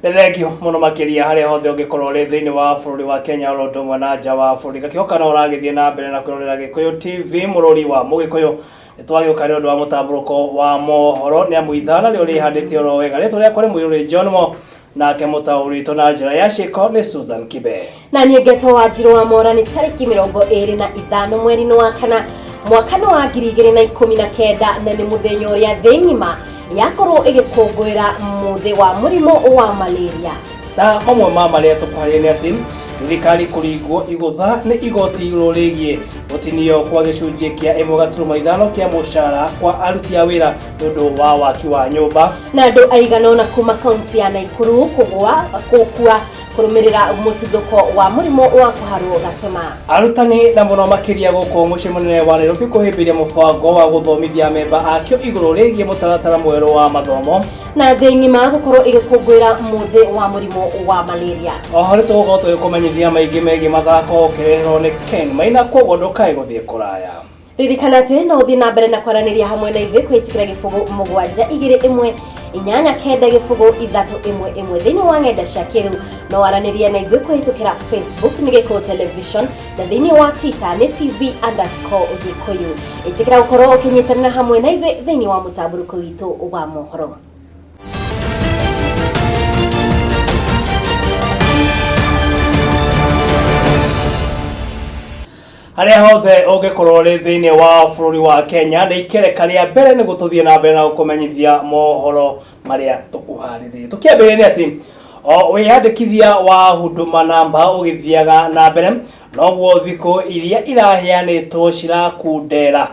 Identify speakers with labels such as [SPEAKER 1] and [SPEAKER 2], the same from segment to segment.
[SPEAKER 1] nĩ thengio mũno makĩria harĩa hothe ũngĩkorwo ũrĩ thĩinĩ wa bũrũri wa kenya oro ũndũ ũmwe na nja wa bũrũri gakĩhoka no ũragĩthiĩ na mbere na kwĩrorera gĩkũyũ tv mũrũri wa mũgĩkũyũ Nĩ twagĩũka nĩ ũndũ wa mũtambũrũko wa mohoro nĩ amu ithaana rĩo rĩhandĩte oro wega rĩtwa rĩakwa nĩ mũirũrĩ John mo nake mũtaũrĩtwo na njĩra ya ciĩko nĩ Susan Kibe na niĩ ngeto
[SPEAKER 2] wa njirũ wa mora nĩ tarĩki mĩrongo ĩrĩ na ithano mweri-inĩ wa kana mwaka nĩ wa ngiri igĩrĩ na ikũmi na kenda na nĩ mũthenya ũrĩa thĩ ng'ima yakorwo ĩgĩkũngũĩra mũthĩ wa mũrimũ wa malaria na mamwe ma
[SPEAKER 1] marĩa tũkũharĩria nĩ atĩ thirikari kũringwo igũtha nĩ igoti igũrũ rĩgiĩ Gũtinio kwa gĩcunjĩ kĩa ĩmwe gaturuma ithano kĩa mũcara kwa aruti a wĩra nĩ ũndũ wa waki wa nyũmba. Na andũ aigana
[SPEAKER 2] ũna kuma kaunti ya Naikuru kũgũa gũkua kũrũmĩrĩra mũtuthũko wa mũrimũ wa kũharwo gatema. Arutani na mũno
[SPEAKER 1] makĩria gũkũ mũciĩ mũnene wa Nairobi kũhĩmbĩria mũbango wa gũthomithia amemba akĩo igũrũ rĩgiĩ mũtaratara mwerũ wa mathomo. na thĩ ng'ima
[SPEAKER 2] gũkorwo ĩgĩkũngũĩra mũthĩ wa mũrimũ wa malaria oho nĩ tũgũkorwo
[SPEAKER 1] tũgĩkũmenyithia maingĩ megiĩ mathako ũkĩreherwo nĩ ken maina kwoguo ndũkae gũthiĩ kũraya ririkana atĩ
[SPEAKER 2] no ũthiĩ na mbere na kwaranĩria hamwe na ithuĩ kwĩtikĩra gĩbũgũ mũgwanja igĩrĩ ĩmwe inyanya kenda gĩbũgũ ithatũ ĩmwe ĩmwe thĩinĩ wa ng'enda cia kĩrĩu no waranĩrie na ithuĩ kũhĩtũkĩra facebook nĩ gĩkũũ television thĩinĩ wa twitter nĩ tv underscore ũgĩkũyũ ĩtĩkĩra gũkorwo ũkĩnyitanĩra hamwe na ithuĩ thĩinĩ wa mũtambũrũko witũ wa mohoro
[SPEAKER 1] harĩa hothe ũngĩkorwo ũrĩ thĩinĩ wa bũrũri wa kenya nĩ ikereka rĩa mbere nĩ gũtũthiĩ na mbere na gũkũmenyithia mohoro marĩa tũkũharĩrĩria tũkĩambĩrĩria nĩ atĩ o wĩyandĩkithia wa huduma namba ũgĩthiaga na mbere noguo thikũ iria iraheanĩtwo cirakundera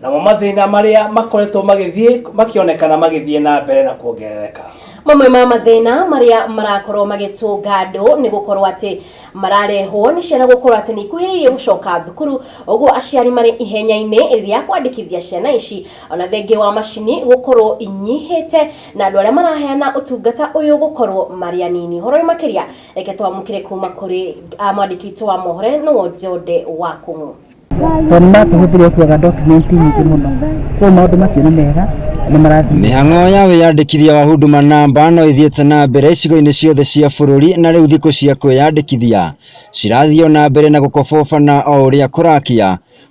[SPEAKER 1] namo mathĩna marĩa makoretwo magĩthiĩ makĩonekana magĩthiĩ na mbere na kuongerereka mamwe ma mathĩna
[SPEAKER 2] marĩa marakorwo magĩtũnga andũ nĩ gũkorwo atĩ mararehwo nĩ ciana gũkorwo atĩ nĩ ikuhĩrĩirie gũcoka thukuru, ũguo aciari marĩ ihenya-inĩ rĩa kwandĩkithia ciana ici, ona thengia wa macini gũkorwo inyihĩte, na andũ arĩa maraheana ũtungata ũyũ gũkorwo marĩ anini. Ũhoro ũyũ makĩria reke twamũkĩre kuma kũrĩ mwandĩki witũ wa mohoro nĩwe Njode wa Kũng'ũ. tondũ nĩ
[SPEAKER 3] matũhũthĩria kuoga dokumenti nyingĩ mũno koguo maũndũ macio nĩ mega nĩ marathiĩ Mĩhang'o ya wĩyandĩkithia
[SPEAKER 4] wa Huduma Namba no ĩthiĩte na mbere icigo-inĩ ciothe cia bũrũri na rĩu thikũ cia kwĩyandĩkithia cirathiĩ o na mbere na gũkobobana o ũrĩa kũrakĩa,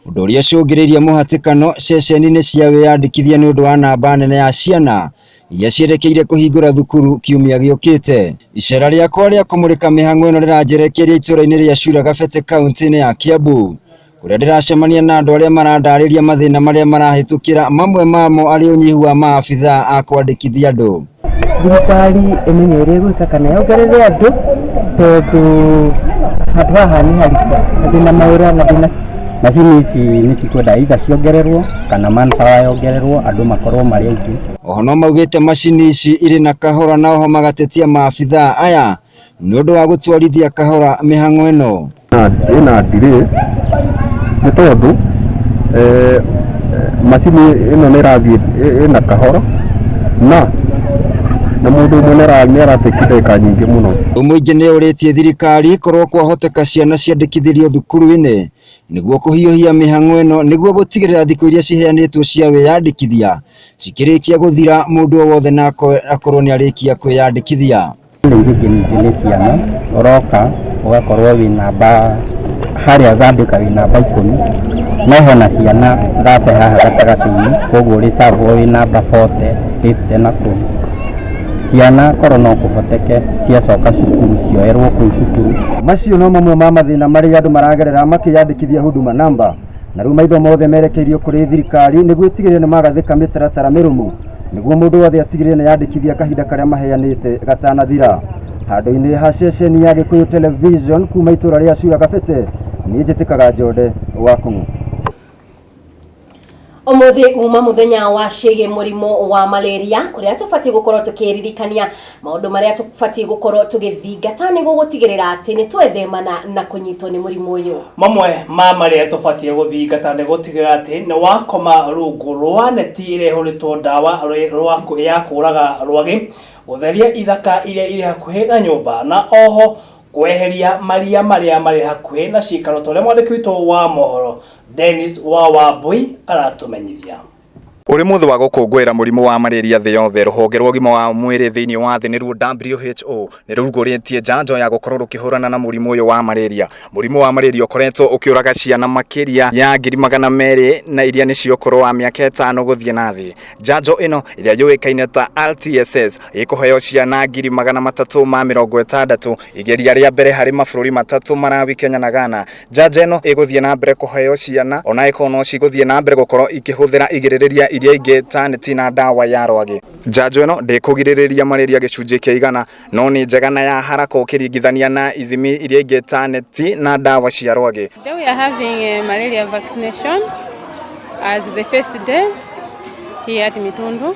[SPEAKER 4] ũndũ ũrĩa ũcũngĩrĩirie mũhatĩkano ceceni-inĩ cia wĩyandĩkithia nĩ ũndũ wa namba nene ya ciana iria ciĩrekeire kũhingũra thukuru kiumia gĩũkĩte. Iceera rĩakwa rĩa kũmũrĩka mĩhang'o ĩno rĩranjerekeire itũũra-inĩ rĩa Cura Gabete kauntĩ-inĩ ya Kiambu, kũrĩa ndĩracemania na andũ arĩa marandarĩria mathĩna marĩa marahĩtũkĩra mamwe mamo arĩ ũnyihu wa maabithaa a kwandĩkithia andũ. Thirikari
[SPEAKER 3] ĩmenye ũrĩa ĩgwĩka kana yongerere andũ tondũ handũ haha nĩ haritũ, mathĩna mawĩra mathĩna Macini ici nĩ cikwenda either ciongererwo kana manpower yongererwo andũ makorwo marĩ aingĩ. Oho no maugĩte
[SPEAKER 4] macini ici irĩ na kahora na oho magatetia maabithaa aya nĩ ũndũ wa gũtwarithia kahora mĩhang'o ĩno. Ĩna delay
[SPEAKER 5] nĩ tondũ eh... macini ĩno nĩ ĩrathiĩ ĩ- ĩna kahoro na na mũndũ ũmwe nĩara- nĩaratĩki ndagĩka nyingĩ mũno Mũingĩ nĩ ũrĩtie
[SPEAKER 4] thirikari korwo kwahoteka ciana ciandĩkithĩrio thukuru-inĩ nĩguo kũhiũhia mĩhang'o ĩno nĩguo gũtigĩrĩra thikũ iria ciheanĩtwo cia wĩyandĩkithia cikĩrĩkia gũthira mũndũ o wothe na ako- akorwo nĩ arĩkia kwĩyandĩkithia. Nĩ njĩngĩ ningĩ
[SPEAKER 3] nĩ ciana ũroka ũgakorwo wĩ namba harĩa thandĩka wĩ namba ikũmi no hena ciana thate haha gatagatĩ-inĩ koguo ũrĩ serve wo wĩ namba bote, bĩbute na kũu. Ciana korwo no kũhoteke ciacoka cukuru cioerwo kũu cukuru. Macio no mamwe ma
[SPEAKER 5] mathĩna marĩa andũ maragerera makĩyandĩkithia Huduma Namba na rĩu maitho mothe merekeirio kũrĩ thirikari nĩguo ĩtigĩrĩre nĩ magathĩka mĩtaratara mĩrũmu. nĩguo mũndũ wothe atigĩrĩre nĩ yandĩkithia kahinda karĩa maheanĩte gatanathira handũ-inĩ ha ceceni ya gĩkũyũ television kuma itũra rĩa cura gabete niĩ njĩtĩkaga njode wa kũng'ũ
[SPEAKER 2] Ũmũthĩ uma mũthenya wa ciĩgiĩ mũrimũ wa malaria kũrĩa tũbatiĩ gũkorwo tũkĩririkania Maũndũ marĩa tũbatiĩ gũkorũo tũgĩthingata nĩguo gũtigĩrĩra atĩ nĩ twethemana na kũnyitwo nĩ mũrimũ ũyũ. Mamwe ma marĩa
[SPEAKER 1] tũbatiĩ gũthingata nĩ gũtigĩrĩra atĩ nĩ wakoma rungu rwa neti ĩrĩa ĩhũrĩtwo ndawa ya kũũraga rwagĩ, gũtheria ithaka iria irĩ hakuhĩ na nyũmba, na o ho kweheria maria marĩa marĩ hakuhĩ na cikaro, ta ũrĩa mwandĩki witũ wa mohoro Dennis wa Wambũi aratũmenyithia. Ũrĩ
[SPEAKER 6] mũthĩ wa gũkũngũĩra mũrimũ wa malaria thĩ yothe, rũhonge rwa ũgima wa mwĩrĩ thĩinĩ wa thĩ nĩruo WHO nĩ rũrugũrĩtie njanjo ya gũkorwo rũkĩhũrana na mũrimũ ũyũ wa malaria. Mũrimũ wa malaria ũkoretwo ũkĩũraga ciana makĩria ya ngiri magana merĩ na iria nĩ cia ũkũrũ wa mĩaka ĩtano gũthiĩ na thĩ. Njanjo ĩno ĩrĩa yũĩkaine ta RTSS ĩkũheo ciana ngiri magana matatũ ma mĩrongo ĩtandatũ igeria rĩa mbere harĩ mabũrũri matatũ, Malawi, Kenya na Ghana. Njanjo ĩno ĩgũthiĩ na mbere kũheo ciana ona ĩkorwo no cigũthiĩ na mbere gũkorwo ikĩhũthĩra igirĩrĩria iria ingĩ ta neti na ndawa ya rwagĩ. Njanjo ĩno ndĩkũgirĩrĩria malaria gĩcunjĩ kĩa igana no nĩ njega na ya haraka ũkĩringithania na ithimi iria ingĩ ta neti na ndawa cia rwagĩ. Today we are having a
[SPEAKER 7] malaria vaccination as the first day here at Mitundu.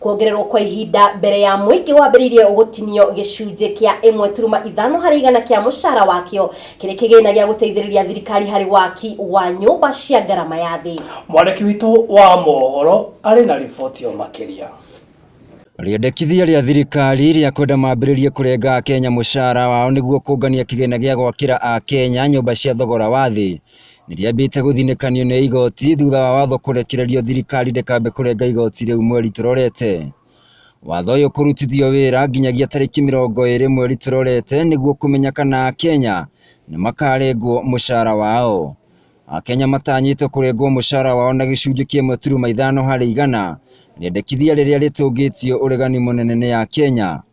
[SPEAKER 2] Kuongererwo kwa ihinda mbere ya mũingĩ wambĩrĩirie gũtinio gĩcunjĩ kĩa ĩmwe turuma ithano harĩ igana kĩa mũcara wakĩo kĩrĩ kĩgĩna gĩa gũteithĩrĩria thirikari harĩ waki wa nyũmba cia ngarama ya thĩ. Mwandĩki witũ wa mohoro arĩ na riboti o makĩria.
[SPEAKER 4] Rĩendekithia rĩa thirikari rĩa kwenda mambĩrĩrie kũrenga Akenya mũcara wao nĩguo kũngania kĩgĩna gĩa gwakĩra Akenya nyũmba cia thogora wa thĩ Nĩrĩambĩte gũthinĩkanio nĩ igoti thutha wa watho kũrekererio thirikari ndĩkambe kũrenga igoti rĩu mweri tũrorete. Watho ũyũ kũrutithio wĩra nginyagia tarĩki mĩrongo ĩrĩ mweri tũrorete nĩguo kũmenya kana Akenya nĩmakarengwo mũcara wao. Akenya matanyĩtwo kũrengwo mũcara wao na gĩcunjĩ kĩmwe turuma ithano harĩ igana, rĩendekithia rĩrĩa rĩtũngĩtio ũregani mũnene nĩ Akenya.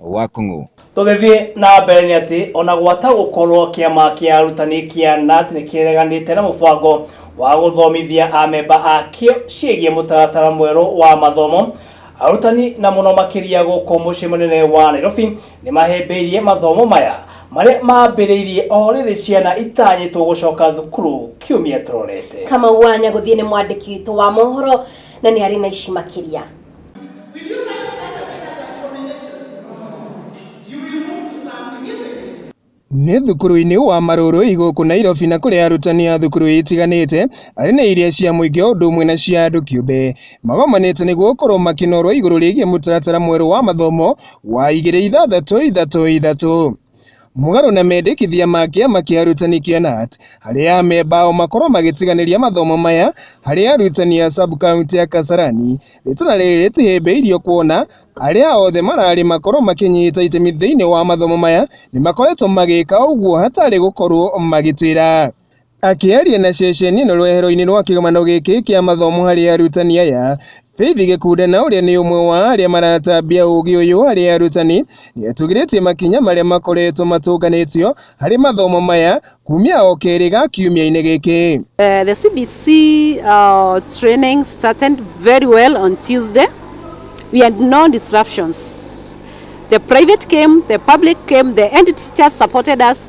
[SPEAKER 4] wa Kung'u. Tũgĩthiĩ na
[SPEAKER 1] mbere nĩ atĩ ona gwata gũkorwo kĩama kĩa arutani kĩa NAT nĩ kĩreganĩte na mũbango wa gũthomithia amemba akĩo ciĩgiĩ mũtaratara mwerũ wa mathomo, arutani na mũno makĩria gũkũ mũciĩ mũnene wa Nairobi nĩ mahĩmbĩirie mathomo maya marĩa mambĩrĩirie o rĩrĩ ciana itanyĩtwo gũcoka thukuru kiumia tũrorete. Kamau wa Nyagũthiĩ nĩ
[SPEAKER 2] mwandĩki witũ wa mohoro na nĩ arĩ na ici makĩria.
[SPEAKER 8] Nĩ thukuru-inĩ wa Marũrũi gũkũ Nairobi na kũrĩa arutani a thukuru itiganĩte arĩ na iria cia mũingĩ o ũndũ ũmwe na cia andũ kĩũmbe magomanĩte nĩguo gũkorwo makĩnorwo igũrũ rĩgiĩ mũtaratara mwerũ wa mathomo wa igĩrĩ ithathatũ ithatũ ithatũ. Mũgarũ na mendekithia ma kĩama kĩa arutani kĩa KNUT, harĩa amemba ao makorwo magĩtiganĩria mathomo maya harĩ arutani a sub-county ya Kasarani, rĩtana rĩrĩ rĩtihĩmbĩirio kuona arĩa othe mararĩ makorwo makĩnyita itemi thĩinĩ wa mathomo maya nĩmakoretwo magĩka ũguo hatarĩ gũkorwo magĩtĩra. Akĩaria na ceceni ĩno rwehero-inĩ rwa kĩgomano gĩkĩ kĩa mathomo harĩ arutani aya, Faith Gĩkunda na ũrĩa nĩ ũmwe wa arĩa maratambia ũũgĩ ũyũ harĩ arutani nĩ atũgĩrĩtie makinya marĩa makoretwo matũnganĩtio harĩ mathomo maya kumia o kerĩ ga kiumia-inĩ gĩkĩ. Uh, the CBC
[SPEAKER 9] uh, training started very well on Tuesday. We had no disruptions. The private came, the public came, the end teachers supported us.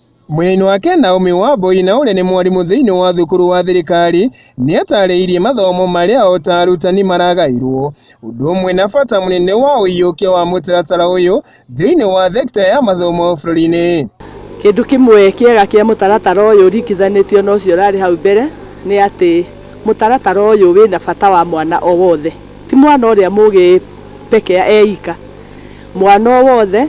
[SPEAKER 9] Mwena-inĩ wake,
[SPEAKER 8] Naomi Wambũi na ũrĩa nĩ mwarimũ thĩinĩ wa thukuru wa thirikari nĩ atarĩirie mathomo marĩa o ta arutani maragaĩirwo ũndũ ũmwe na bata mũnene wa ũiyũkia wa mũtaratara ũyũ thĩinĩ wa thekita ya mathomo bũrũri-inĩ. Kĩndũ kĩmwe
[SPEAKER 10] kĩega kĩa mũtaratara ũyũ ũringithanĩtio na ũcio ũrarĩ hau mbere nĩ atĩ mũtaratara ũyũ wĩna bata wa mwana o wothe. Ti mwana ũrĩa mũgĩ pekea eika. Mwana o wothe,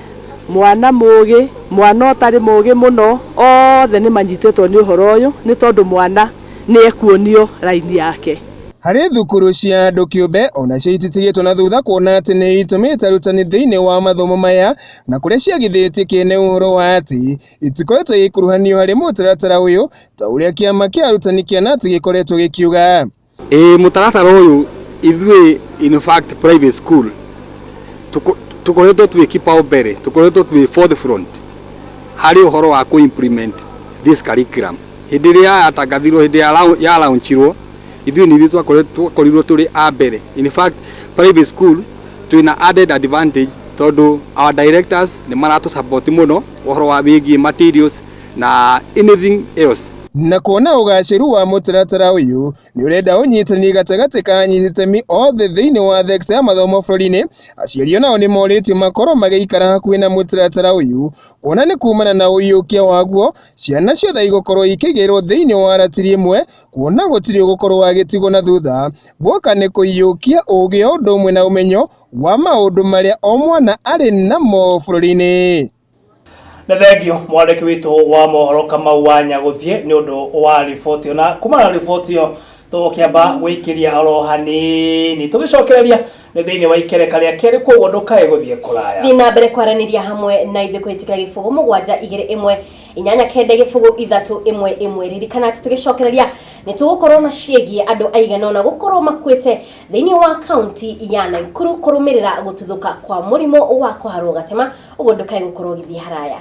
[SPEAKER 10] mwana mũũgĩ, mwana ũtarĩ mũũgĩ mũno, othe nĩ manyitĩtwo nĩ ũhoro ũyũ nĩ tondũ mwana nĩ ekuonio raini yake. Harĩ thukuru
[SPEAKER 8] cia andũ kĩũmbe, o nacio ititigĩtwo na thutha kuona atĩ nĩ itũmĩte arutani thĩinĩ wa mathomo maya na kũrĩa ciagithĩtie kĩene ũhoro wa atĩ itikoretwo igĩkuruhanio harĩ mũtaratara ũyũ ta ũrĩa kĩama kĩa arutani kĩa knut gĩkoretwo gĩkiuga. Ĩĩ mũtaratara
[SPEAKER 11] ũyũ ithuĩ in fact private school tũkoretwo twĩ kipao mbele, tũkoretwo twĩ forth front harĩ ũhoro wa kũ implement this curriculum. Hĩndĩ ĩrĩa yatangathirwo, hĩndĩ ĩrĩa ya launch irwo, ithuĩ nĩ ithuĩ twakorirwo twĩ a mbere. In fact private school twĩna added advantage tondũ our directors nĩ maratũ support mũno ũhoro wĩgiĩ materials, na anything else. Na kuona
[SPEAKER 8] ũgacĩru wa mũtaratara ũyũ nĩ ũrenda ũnyitanĩri gatagatĩ ka anyiti itemi othe thĩinĩ wa thekita ya mathomo bũrũri-inĩ, aciari o nao nĩ morĩtio makorwo magĩikara hakuhĩ na mũtaratara ũyũ kuona nĩ kumana na ũiyũkia waguo ciana ciothe igũkorwo ikĩigĩrĩrwo thĩinĩ wa ratiri ĩmwe kuona gũtirĩ ũgũkorwo agĩtigwo na thutha. Guoka nĩ kũiyũkia ũgĩ o ũndũ ũmwe na ũmenyo wa maũndũ marĩa o mwana arĩ namo bũrũri-inĩ. Nĩ
[SPEAKER 1] thengio mwandĩki witũ wa mohoro Kamau wa Nyagũthiĩ nĩ ũndũ wa riboti ĩyo. Na kumana na riboti ĩyo tũgũkĩamba gwĩkĩria oro hanini tũgĩcokereria nĩ thĩinĩ wa ikereka rĩa kerĩ koguo ndũkae gũthiĩ kũraya. Thiĩ na mbere kwaranĩria
[SPEAKER 2] hamwe na ithuĩ kũhĩtũkĩra gĩbũgũ mũgwanja igĩrĩ ĩmwe inyanya kenda gĩbũgũ ithatũ ĩmwe ĩmwe. Ririkana atĩ tũgĩcokereria nĩ tũgũkorwo na ciĩgiĩ andũ aigana ũna gũkorwo makuĩte thĩinĩ wa kaunti ya Naikuru kũrũmĩrĩra gũtuthũka kwa mũrimũ wa kũharwo gatema Ũguo ndũkae gũkorwo ũgĩthiĩ haraya.